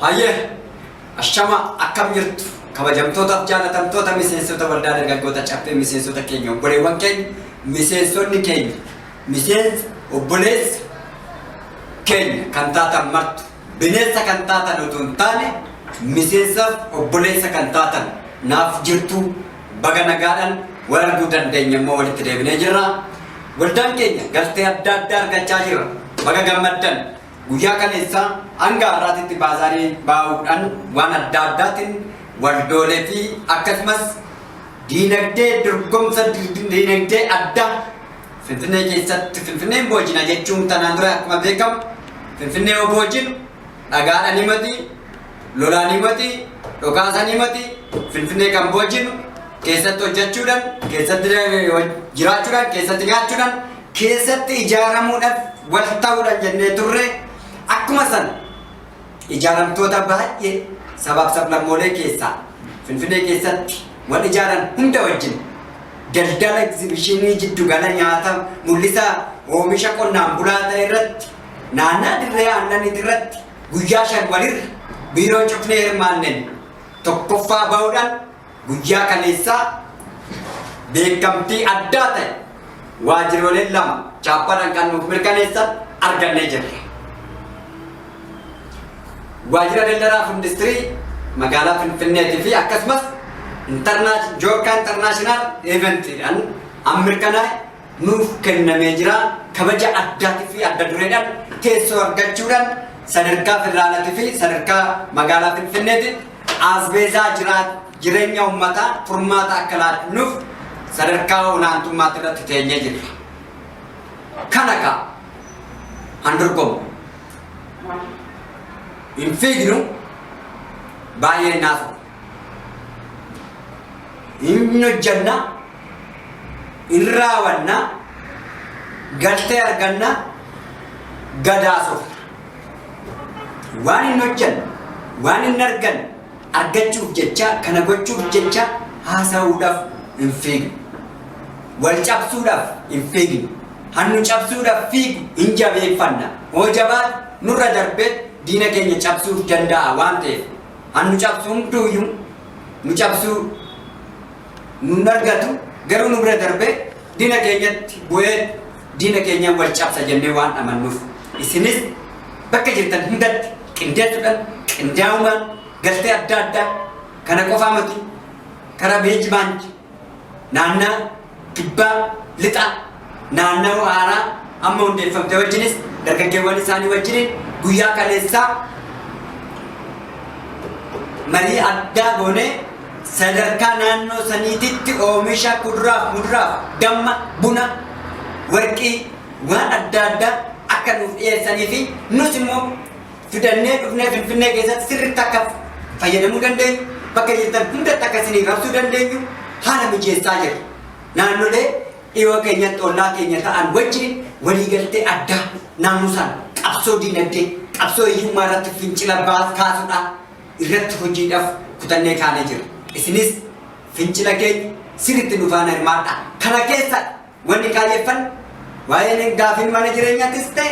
Hayyee ashama akkam jirtu kabajamtootaaf jaalatamtoota miseensota waldaa dargaggoota caffee miseensota keenya obboleewwan keenya miseensonni keenya miseensa obboleessa keenya kan taatan martu bineensa kan taatan utuu hin taane miseensaaf obboleessa kan taatan naaf jirtu baga nagaadhaan wal arguu dandeenya immoo walitti deebinee jirra. Waldaan keenya galtee adda addaa argachaa jira. Baga gammaddan. Guyyaa kaleessaa hanga har'aatitti baazaarii baa'uudhaan waan adda addaatiin waldoolee fi akkasumas diinagdee dorgomsa diinagdee addaa Finfinnee keessatti Finfinneen boojina jechuun tanaan dura akkuma beekamu Finfinnee yoo boojinu dhagaadhaan himati, lolaan himati, dhokaasan himati, Finfinnee kan boojinu keessatti hojjechuudhaan, keessatti jiraachuudhaan, keessatti nyaachuudhaan keessatti ijaaramuudhaf wal ta'uudhan jennee turre akkuma san ijaaramtoota baay'ee sabaaf sablammoolee keessaa Finfinee keessatti wal ijaaran hunda wajjin daldala egzibishinii jiddugala nyaata mul'isa oomisha qonnaan bulaa ta'e irratti naannaa dirree aannaniiti irratti guyyaa shan walirra biiroo cufnee hirmaanneen tokkoffaa ba'uudhaan Guyyaa kaleessaa beekamtii addaa ta'e waajjirooleen lama chaappaadhaan kan nuuf mirkaneessan argannee jirra. Waajjira daldalaa fi industirii magaalaa Finfinneetii fi akkasumas Joorkaa Intarnaashinaal Eeventiidhaan an mirkanaa'e nuuf kennamee jira. Kabaja addaatii fi adda dureedhaan teessoo argachuudhaan sadarkaa federaalaatii fi sadarkaa magaalaa Finfinneetiin aasbeezaa jiraat jireenya uummataa furmaata akka laannuuf sadarkaa olaantummaatti irratti teenyee jirra. Kana kaa han dorgomu. Hin fiignu baay'ee naaf hin hojjanna hin raawanna galtee arganna gadaasof waan hin hojjanne waan hin arganne argachuuf jecha kana gochuuf jecha haasa'uudhaaf hin fiignu wal cabsuudhaaf hin fiignu hannu cabsuudhaaf fiigu hin jabeeffanna hoo jabaat nurra darbee diina keenya cabsuuf danda'a waan ta'eef an nu cabsu hunduuyyu nu cabsu nun argatu garuu nu bira darbee dina keenyatti bu'ee dina keenya wal cabsa jennee waan amannuuf isinis bakka jirtan hundatti qindeessuudhaan qindaa'umaan galtee adda addaa kana qofaa miti karaa beejimaanti Naannaa Kibbaa Lixaa naannawa haaraa amma hundeeffamte wajjinis dargaggeewwan isaanii wajjiniin guyyaa kaleessaa marii addaa goonee sadarkaa naannoo saniititti oomisha kuduraaf, muduraaf, damma, buna, warqii waan adda addaa akka nuuf dhiyeessanii fi nus immoo fidannee dhufnee Finfinnee keessatti sirriitti akka fayyadamuu dandeenyu, bakka jirtan hundatti akka isinii rabsuu dandeenyu haala mijeessaa jira. Naannolee dhiyoo keenyatti ollaa keenya ta'an wajjin waliigaltee addaa naamusaan qabsoo diinagdee, qabsoo hiyyummaa irratti fincila baas kaasudhaa irratti hojiidhaaf kutannee kaanee jira. Isinis fincila keenya sirriitti nu faana hirmaadhaa. Kana keessa Wanni kaayyeffan waa'een gaafiin mana jireenyaattis ta'e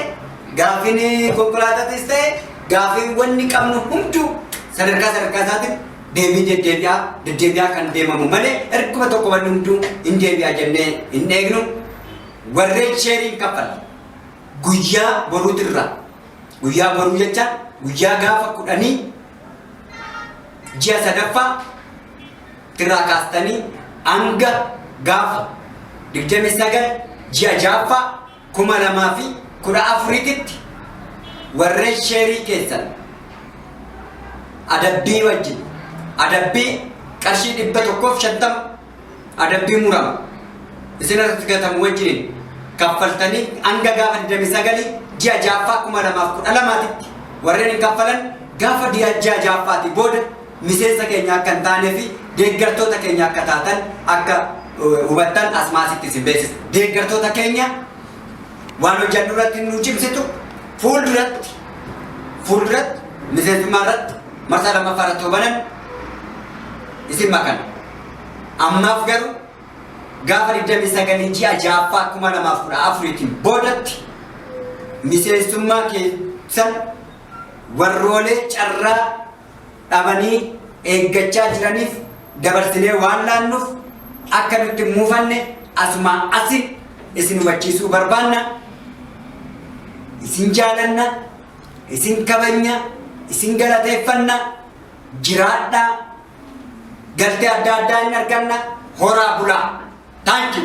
gaafiin konkolaataatis ta'e gaafiin wanni qabnu hunduu sadarkaa sadarkaa isaatiin deebii deddeebi'aa deddeebi'aa kan deemamu malee erguma tokko wanni hunduu hin deebi'aa jennee hin eegnu warreen sheeriin kaffalle guyyaa boruutirraa guyyaa boruu jecha guyyaa gaafa kudhanii ji'a sadaffaa irraa kaastanii hanga gaafa 29 ji'a jaaffaa 2014tti warreen sheerii keessan adabbii wajjin adabbii qarshii 150 adabbii murama isin irratti gatamu wajjin kaffaltanii hanga gaafa 29 ji'a jaaffaa 2012tti warreen hin kaffalan gaafa ji'a jaaffaatii booda miseensa keenya akka hin taanee fi deeggartoota keenya akka taatan akka hubattan asmaasitti isin beeksisa. Deeggartoota keenya waan hojjannu irratti nu cimsitu fuulduratti fuulduratti miseensummaa irratti marsaa lammaffaa irratti hubanan isin makan. Ammaaf garuu gaafa 29 ji'a ja'affaa 2014tiin boodatti miseensummaa keessan warroolee carraa dhabanii eeggachaa jiraniif dabarsinee waan laannuuf akka nutti hin muufanne asumaa asi isin hubachiisuu barbaanna. Isin jaalanna, isin kabajna, isin galateeffanna, jiraadhaa, galtee adda addaa hin arganna, horaa bulaa. Thank you.